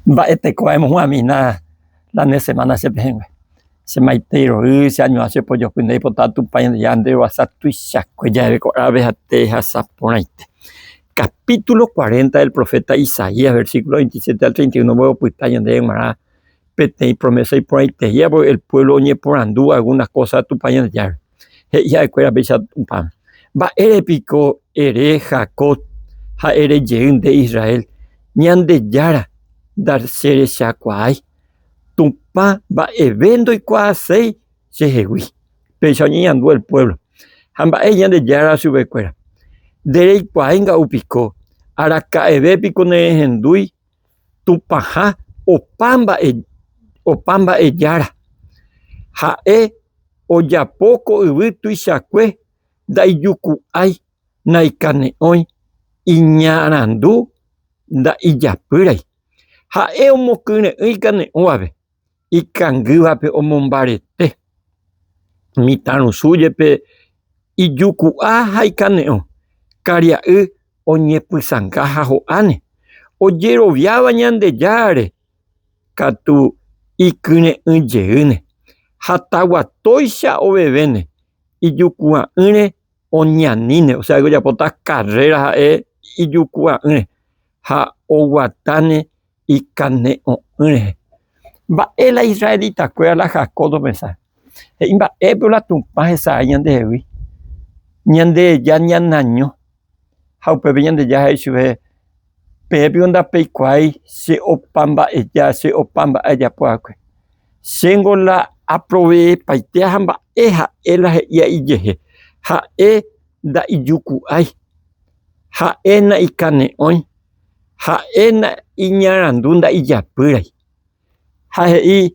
Mba'e tekove aimohu'ãmina la ne semana che pehẽngue. Che maitei ro'y, che añuã che pojopy ndéi pota Tupã Ñandejára nde roasa tuichakue jave ko árabe ha tehasa porãite. Capítulo 40 del profeta Isaías, versículo 27 al 31 mboy opyta ñandéve g̃uarã peteĩ promesa iporãiteíva, porque el pueblo oñeporandu algunas cosas Tupã Ñandejárape. He'i ha'ekuéra peichagua, Mba'ére piko ere Jacob ha ere jey nde Israel, Ñandejára ndacherechakuaái, Tupã mba'eve ndoikuaaséi chehegui. Péicha oñeñandu el puévlo. Ha mba'éi Ñandejára chupekuéra, Ndereikuaái nga'u piko, araka'eve piko nerehendúi Tupãha opa mba'e, opa mba'e Jára. Ha'e ojapo ko yvy tuichakue ndaijuku'ái, naikane'õi, iñarandu nda'ijapýrai. Ha'e omokyre'ỹ ikane'õvape. ikangývape omombarete, mitãrusu jepe ijuku'a ha ikane'õ, karia'y oñepysãnga ha ho'áne, ojeroviáva Ñandejáre katu ikyre'ỹ jeýne, ha taguatóicha ovevéne ijukua'ỹre oñaníne, osea que ojapóta carrera ha'e ijukua'ỹre ha oguatáne ikane'õ'ỹ rehe. Mba'e la israelitakuéra la Jacob omesa? He'i mba'épe la Tupã hesa'ái ñandehegui, Ñandeheja ñanañõ. Ha upépe Ñandeja he'i chupe, Peẽ piko ndapeikuaái che opa mba'eja, che opa mba'e ajapo va'ekue. Chéngo la aproveepaitéaha mba'e ha'e la he'íva ijehe. Ha'e nda'ijuku'ái, ha'e naikane'õi. ha'éna iñarandu nda'ijapýrai ha he'i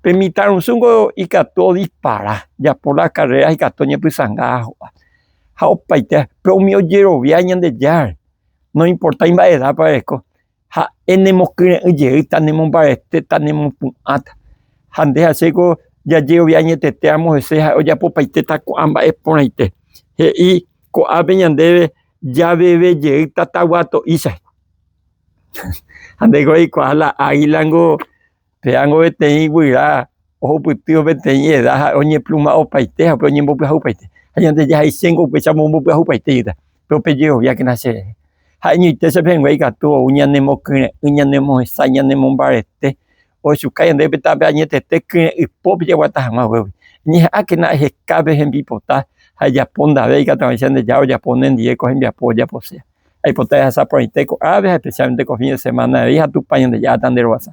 pe mitãrusúngo ikatu odispara, japo la karréra ikatu oñepysãnga ajo'a. Ha opaite pe umi ojerovia Ñandejára, noimportái mba'e edápa reko, ha'e nemokyre'ỹ jeýta, nemombaretéta, nemopu'ãta. Ha nde ha chéko jajerovia añeteteramo hese ha ojapopaitéta ko'ã mba'e porãite. He'i ko'ápe ñandéve Javeve jey tatagua to'i chai. Ha ndéiko aikuaa la águila niko péango peteĩ guyra ohupyty peteĩ eda ha oñepluma opaite ha upe oñembopyahu paite. Ha ñande jahaiche niko upéicha omomopyahu paite jýta, pe upe jeroviákena che rehe. Ha'eñoite che pehẽngue ikatu ou ñanemokyre'ỹ, ñanemohesãi, ñanemombarete. ohechuka ñande opytápe añetete kyre'ỹ pópe jaguata hag̃ua ovévoi. Ñeha'ãkena aheka pe hembipota ha ejapo ndave ikatuavaicha nde Jára ojapo nendive ko hembiapo ojapose. Aipota ehasa porãite ko'ãve ha especialmente ko fin de semana avei ha Tupã Ñandejára tanderovasa.